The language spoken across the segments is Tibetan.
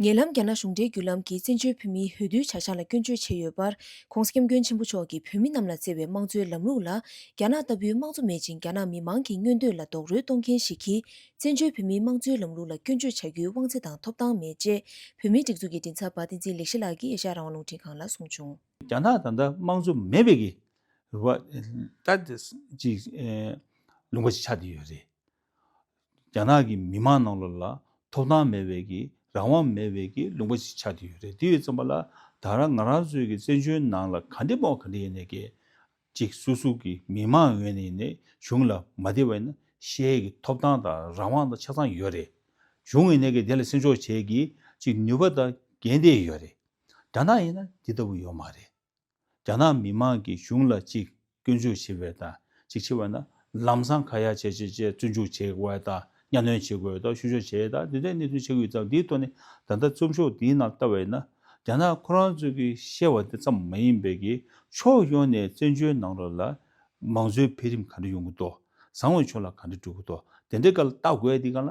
ཉེ་ལམ་རྒྱ་ནག་གཞུང་འབྲེལ་བརྒྱུད་ལམ་གྱིས་བཙན་བྱོལ་བོད་མིའི་འོས་བསྡུའི་བྱ་གཞག་ལ་སྐྱོན་བརྗོད་བྱས་ཡོད་པར ྋགོང་ས ྋསྐྱབས་མགོན་ཆེན་པོ་མཆོག་གིས་བོད་མི་རྣམས་ལ་བསྩལ་བའི་དམངས་གཙོའི་ལམ་ལུགས་ལ་རྒྱ་ནག་ལྟ་བུའི་དམངས་གཙོ་མེད་ཅིང་རྒྱ་ནག་མི་མང་གི་མངོན་འདོད་ལ་རྡོག་རོལ་གཏོང་མཁན་ཞིག་གིས་བཙན་བྱོལ་བོད་མིའི་དམངས་གཙོའི་ལམ་ལུགས་ལ་སྐྱོན་བརྗོད་བྱ་རྒྱུའི་དབང་ཚད་དང་ཐོབ་ཐང་མེད་ཅེས་བོད་མིའི་སྒྲིག་འཛུགས་ཀྱི་མགྲིན་ཚབ་པ་བསྟན་འཛིན་ལེགས་བཤད་ལགས་ཀྱིས་ཨེ་ཤ་ཡ་རང་དབང་རླུང་འཕྲིན་ཁང་ལ་གསུངས་བྱུང། རྒྱ་ནག་ད་ལྟ་དམངས་གཙོ་མེད་པའི་གི་བ། ད་དེ་ཅིག་ལུང་པ་ཞིག་ཆགས་བསྡད་ཡོད་རེད། རྒྱ་ནག་གི་མི་མང་ནང་ལོགས་ལ་ཐོབ་ཐང་མེད་བས་ཀྱི་རང་དབང་མེད་བས་ཀྱི་ལུང་པ་ཞིག་ཆགས་བསྡད་ཡོད་རེད་དེ་ཡོད་ཙམ་པ་ལ་ད་རང་ང་རང་ཚོའི་ཀྱི་བཙན་བྱོལ་ནང་ལ་ག་འདྲེ་དཔོག་ག་འདྲེ་ཡིན་ནས་ཀྱི་ཅིག་སུ་སུ་ཀྱི་མི་མང་ངོས་ནས་ནས་གཞུང་ལ་མ་བདེ་བ་ཡིན་ན་ཤེས་ཀྱི་ཐོབ་ཐང་དང་རང་དབང་དང་ཆ་ཚང་ཡོད་རེད། གཞུང་ངོས་ནས་ཀྱི་དེ་ལ་སེམས་ཕྱོགས་བྱས་ཀྱི་ཅིག་ནུས་པ་དང་འགན་དེ་ཡོད་རེད། རྒྱ་ནག་ཡིན་ན་དེ་ལྟ་བུ་ཡོད་མ་རེད། རྒྱ་ནག་མི་མང་གིས་གཞུང་ལ་གཅིག་སྐྱོན་བརྗོད་བྱེད་པའི་དང་གཅིག་ཆེ་བ་ན་ལམ་སང་ཁ་ཡ་བྱེད་བྱེད་བྱེད་བཙོན་འཇུག་བྱེད་དགོས་བ་དང་གཉའ་གནོན་བྱེད་དགོས་དང་བཤུ་གཞོག་བྱེད་དང་དེ་འདྲའི་གནས་ཚུལ་ཆགས་ཡོད་ཙང་དེའི་ཐོག་ནས་ད་ལྟ་རྩོམ་ཤོག་འདིའི་ནང་བལྟ་བས་ན་རྒྱ་ནག་ཁོ་རང་ཚོས་ཀྱིས་བཤད་བ་དེ་ཙམ་མ་ཡིན་པའི་གིས་ཕྱོགས་ཡོངས་ནས་བཙན་བྱོལ་ནང་རོ་ལ་མང་གཙོའི་འཕེལ་རིམ་ག་འདྲ་ཡོང་གི་འདུག་བཟང་བའི་ཕྱོགས་ལ་ག་འདྲ་འགྲོ་གི་འདུག་དེ་འདྲའི་སྐལ་བལྟ་དགོས་དེ་ག་ལ་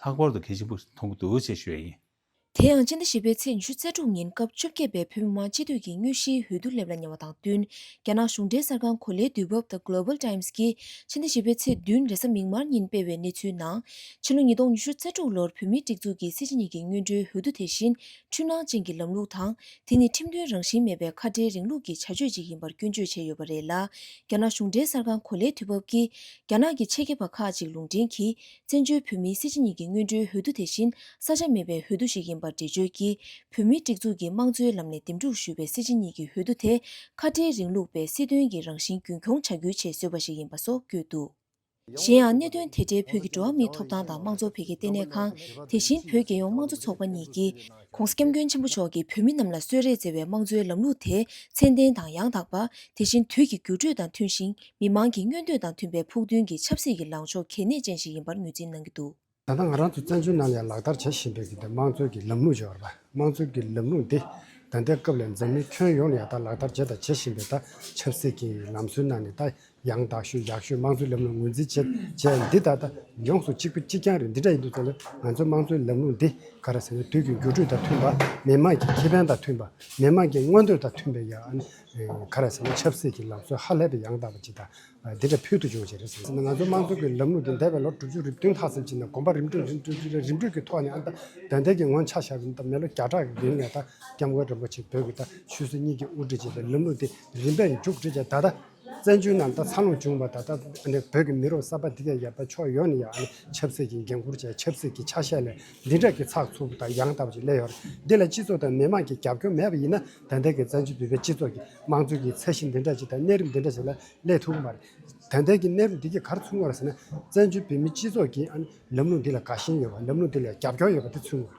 ལྷག་པར་དུ་གལ་ཆེན་པོ་མཐོང་གི་འདུག་ཅེས་ཞུ་ཡ་ཡིན། དེ་ཡང་སྤྱི་ཟླ་བཞི་པའི་ཚེས་ཉི་ཤུ་རྩ་དྲུག་ཉིན་སྐབས་བཅོ་བརྒྱད་པའི་བོད་མི་མང་སྤྱི་འཐུས་ཀྱི་སྙུན་གཞིའི་འོས་བསྡུ་སླེབས་ལ་ཉེ་བ་དང་བསྟུན་རྒྱ་ནག་གཞུང་འབྲེལ་གསར་ཁང་གོ་ལའི་དུས་བབ་དང Global Times གྱིས་ཕྱི་ཟླ་བཞི་པའི་ཚེས་བདུན་རེས་གཟའ་མིག་དམར་ཉིན་སྤེལ་བའི་གནས་ཚུལ་ནང། ཕྱི་ལོ་ཉིས་སྟོང་ཉི་ཤུ་རྩ་དྲུག་ལོར་བོད་མིའི་སྒྲིག་འཛུགས་ཀྱི་སྲིད་སྤྱི་གཉིས་ཀྱི་སྙུན་གྲོའི་འོས་བསྡུ་དེ་བཞིན་འཕྲུལ་སྣང་ཅན་གྱི་ལམ་ལུགས་དང་དེ་ནི་ཁྲིམས་མཐུན་རང་བཞིན་མེད་པའི་ཁ་བྲལ་རིང་ལུགས་ཀྱི་བྱ་སྤྱོད་ཅིག་ཡིན་པར་སྐྱོན་བརྗོད་བྱས་ཡོད་པ་རེད་ལ་རྒྱ་ནག་གཞུང་འབྲེལ་གསར་ཁང་གོ་ལའི་དུས་བབ་ཀྱིས་རྒྱ་ནག་གི་ཆེད་མཁས་པ་ཁག་ཅིག་ལུང་འདྲེན་གྱིས་བཙན་བྱོལ་བོད་མིའི་སྲིད་སྤྱི་གཉིས་ཀྱི་སྔོན་འགྲོའི་འོས་བསྡུ་དེ་བཞིན་ས་ཆ་མེད་པའི་འོས་བསྡུ་ཞིག་ཡིན་པར་འགྲེལ་བརྗོད་ཀྱིས་བོད་མིའི་སྒྲིག་འཛུགས་ཀྱི་དམངས་གཙོའི་ལམ་ནས་འདེམས་སྒྲུག་ཞུས་པའི་སྲིད་སྤྱི་གཉིས་ཀྱི་འོས་བསྡུ་དེ་ཁ་བྲལ་རིང་ལུགས་པའི་སྲིད་དོན་གྱི་རང་བཞིན་རྒྱུན་འཁྱོངས་བྱ་རྒྱུའི་ཆེད་བཟོས་པ་ཞིག་ཡིན་པ་སོགས་བཀོད་འདུག་གཞན་ཡང་གནད་དོན་དེ་འབྲེལ་བོད་ཀྱི་འགྲོ་བ་མིའི་ཐོབ་ཐང་དང་དམངས་གཙོ་འཕེལ་རྒྱས་ལྟེ་གནས་ཁང་དེ་བཞིན་བོད་རྒྱལ་ཡོངས་དམངས་གཙོ་ཚོགས་པ་གཉིས་ཀྱིས། ཁོང་སྐྱབས་མགོན་ཆེན་པོ་མཆོག་གིས་བོད་མི་རྣམས་ལ་གསོལ་རས་བསྩལ་བའི་དམངས་གཙོའི་ལམ་ལུགས་དེ་ཚད་ལྡན་དང་ཡང་དག་པ། དེ་བཞིན་དུས་ཀྱི་འགྱུར་འགྲོས་དང་མཐུན་ཞིང་མི་དམངས་ཀྱི་མངོན་འདོད་དང་མཐུན་པའི་ཕུགས་འདུན་གྱི་ཆབ་སྲིད་ཀྱི་ལངས་ཕྱོགས་གལ་གནད་ཅན་ཞིག་ཡིན་པར་ངོས་འཛིན་གནང་གི་འདུག། ད་ལྟ་ང་རང་ཚོས་བཙན་བྱོལ་ནང་ནས་ལག་བསྟར་བྱེད་བཞིན་པའི་དེ་དམངས་གཙོའི་གྱི་ལམ་ལུགས་ཅེས་པ། དམངས་གཙོའི་གྱི་ལམ་ལུགས་འདི་ད་ལྟའི་སྐབས་ལས་འཛམ་གླིང་ཁྱོན་ཡོངས་ནས་ཡང་དག་ལག་བསྟར་བྱས་དང་བྱེད་བཞིན་པའི་ད་ཆབ་སྲིད་ཀྱི་ལམ་སྲོལ་ནང་ནས་ད་ཡང་དག་ཤོས་ཡག་ཤོས་དམངས་གཙོའི་ལམ་ལུགས་ངོས་འཛིན་བྱེད་བྱེད་འདི་ད་ལྟ་ཡོངས་སུ་གཅིག་པ་གཅིག་རྐྱང་རེད་འདི་འདྲ་ཡིན་དུས་ཚོད་ལ་ང་ཚོའི་དམངས་གཙོའི་ལམ་ལུགས་འདི་ག་རེ་ཟེར་ན་དུས་ཀྱི་འགྱུར་འགྲོས་དང་མཐུན་པ་མི་དམངས་ཀྱི་ཁེ་ཕན་དང་མཐུན་པ་མི་དམངས་ཀྱི་མངོན་འདོད་དང་མཐུན་པའི་ཡང་ག་རེ་ཟེར་ན་ཆབ་སྲིད་ཀྱི་ལམ་སྲོལ་ཧ་ལས་པའི་ཡང་དག་པ་ཅིག་དང་འདི་འདྲ་ཕུལ་དུ་བྱུང་བ་ཞིག་རེད་ཟེར་ན་ང་ཚོའི་དམངས་གཙོའི་ལམ་ལུགས་འདི་འདས་པའི་ལོ་དྲུག་ཅུ་རེ་བདུན་ལྷག་ཙམ་ཕྱིན་ནས་གོམ་པ་རིམ་བགྲོད་རིམ་བགྲོད་རིམ་བགྲོད་ཀྱི་ཐོག་ནས་ཨ་མདའ་འདའ་འདའ་གྱི་ངོ་ཆ་བཞག་གིན་ད་མི་ལོ་བརྒྱ་ཕྲག་གི་རིང་ནས་ད་སྐྱབས་མགོན་རིན་པོ་ཆེ་བོད་ཀྱི་ད་ཆོས་སྲིད་གཉིས་ཀྱི་དབུ་ཁྲིད་བྱེད་པའི་ལམ་ལུགས་འདི་རིམ་པས་མཇུག་བསྒྲིལ་ཅིང་ད་ལྟ། བཙན་བྱོལ་ནང་དང་འཚར་ལོངས་བྱུང་བ་ད་ལྟ་བོད་ཀྱི་མི་རོ་གསར་པ་འདི་གའི་ཡབ་ད་ཕྱོགས་ཡོངས་ནས་ཡང་ཆབ་སྲིད་ཀྱི་འགན་ཁུར་བྱས་ཆབ་སྲིད་ཀྱི་ཆ་ཤས་ལས་འདི་འདྲ་གི་ཚགས་ཚུགས་དང་ཡང་དག་པ་ཞིག་སླེབས་ཡོད་རེད་འདི་ལ་སྤྱི་ཚོགས་དང་མི་དམངས་ཀྱི་རྒྱབ་སྐྱོར་མེད་པ་ཡིན་ན་ད་ལྟའི་གི་བཙན་བྱོལ་བོད་པའི་སྤྱི་ཚོགས་ཀྱི་དམངས་གཙོ་གྱི་ཚད་གཞི་འདི་འདྲ་ཞིག་དང་གནས་རིམ་འདི་འདྲ་ཞིག་ལ་སླེབས་ཐུབ་གི་མ་རེད་ད་ལྟའི་གི་གནས་རིམ་འདི་གི་གར་ཚུགས་ངོ་ར་ཟེར་ན་བཙན་བྱོལ་བོད་མིའི་སྤྱི་ཚོགས་ཀྱི་ལམ་ལུགས་འདི་ལ་དགའ་ཞེན་ཡོད་པ་ལམ་ལུགས་འདི་ལ་རྒྱབ་སྐྱོར་ཡོད་པ་དེ་ཚུགས་ངོ་རེད།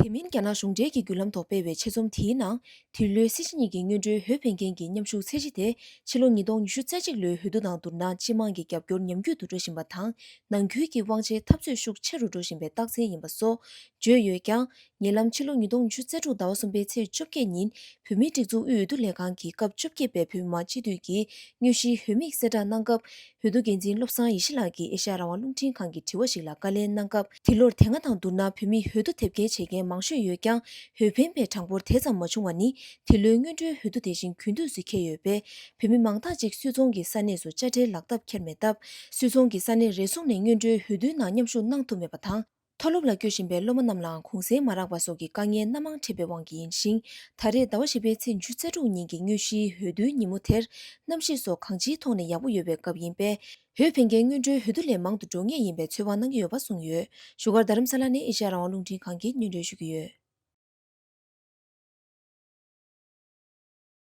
དེ་མིན་རྒྱ་ནག་གཞུང་འབྲེལ་གྱི་བརྒྱུད་ལམ་ཐོག་སྤེལ་བའི་ཆེད་རྩོམ་དེའི་ནང། དེ་ལོའི་སྲིད་སྤྱི་གཉིས་ཀྱི་སྔོན་འགྲོའི་ཧོས་ཕན་ཀན་གྱི་མཉམ་ཞུགས་ཚད་གཞི་དེ་ཕྱི་ལོ་ཉིས་སྟོང་ཉི་ཤུ་རྩ་གཅིག་ལོའི་ཧོས་དུས་དང་བསྡུར་ན་སྤྱི་དམངས་ཀྱི་རྒྱབ་སྐྱོར་ཉམས་རྒུད་དུ་འགྲོ་བཞིན་པ་དང་ནང་ཁུལ་གྱི་དབང་ཆའི་འཐབ་རྩོད་ཤུགས་ཆེ་རུ་འགྲོ་བཞིན་པའི་རྟགས་མཚན་ཡིན་པ་སོགས་བརྗོད་ཡོད་ཀྱང། ཉེ་ལམ་ཕྱི་ལོ་ཉིས་སྟོང་ཉི་ཤུ་རྩ་དྲུག་ཟླ་བ་གསུམ་པའི་ཚེས་བཅོ་བརྒྱད་ཉིན་བོད་མིའི་སྒྲིག་འཛུགས་དབུས་འོས་བསྡུ་ལས་ཁང་གིས་སྐབས་བཅོ་བརྒྱད་པའི་བོད་མི་མང་སྤྱི་འཐུས་ཀྱི་སྨྱོ་གཞིའི་ཧོས་དམིགས་བསལ་བསྒྲགས་གནང་སྐབས། བོད་དུ་འགན་འཛིན་བློ་བཟང་ཡེ་ཤེས་ལགས་ཀྱིས་ཨེ་ཤ་ཡ་རང་དབང་རླུང་འཕྲིན་ཁང་གི་དྲི་བ་ཞིག་ལ་བཀའ་ལན་གནང་སྐབས་དེ་ལོར་དེ་སྔ་དང་བསྡུར་ན་བོད་མིས་ཧོལ་རྡུ་དེབ་སྐྱེལ་བྱེད་མཁན་མང་ཤོས་ཡོད་ཀྱང་ཧོལ་ཕན་པའི་གྲངས་འབོར་དེ་ཙམ་མ་བྱུང་བ་ནི་དེ་ལོའི་སྔོན་འགྲོའི་ཧོལ་རྡུ་དེ་བཞིན་གུས་འདུད་སུས་འཁྱེར་ཡོད་པས་བོད་མི་མང་དག་ཅིག་སུད་ཚོང་གི་ས་གནས་སུ་དཔྱ་ཁྲལ་ལག་ཐབས་འཁྱེར་མེད་སྟབས་སུད་ཚོང་གི་ས་གནས་རེ་ཟུང་ནས་སྔོན་འགྲོའི་ཧོལ་རྡུའི་ནང་མཉམ་ཞུགས་གནང་ཐུབ་མེད་པ་དང། མཐོ་སློབ་ལ་སྐྱོད་བཞིན་པའི་སློབ་མ་རྣམས་ལའང་གུང་གསེང་མ་རག་པ་སོགས་ཀྱི་དཀའ་ངལ་སྣ་མང་འཕྲད་པའི་དབང་གིས་ཡིན་ཞིང། ད་རེས་ཟླ་བ་བཞི་པའི་ཚེས་བཅུ་རྩ་དྲུག་ཉིན་གྱི་སྙུན་གཞིའི་འོས་བསྡུའི་ཉིན་མོ་དེར། གནམ་གཤིས་སོགས་གང་ཅིའི་ཐོག་ནས་ཡག་པོ་ཡོད་པའི་སྐབས་ཡིན་པས། བོད་ཕན་རྒན་སྔོན་འགྲོའི་འོས་བསྡུ་ལས་མང་དུ་འགྲོ་ངེས་ཡིན་པའི་ཚོད་དཔག་གནང་གི་ཡོད་པ་གསུངས་ཡོད། བཞུགས་སྒར་རྡ་རམ་ས་ལ་ནས་ཨེ་ཤ་ཡ་རང་དབང་རླུང་འཕྲིན་ཁང་གིས་སྙན་སྒྲོན་ཞུ་གི་ཡོད།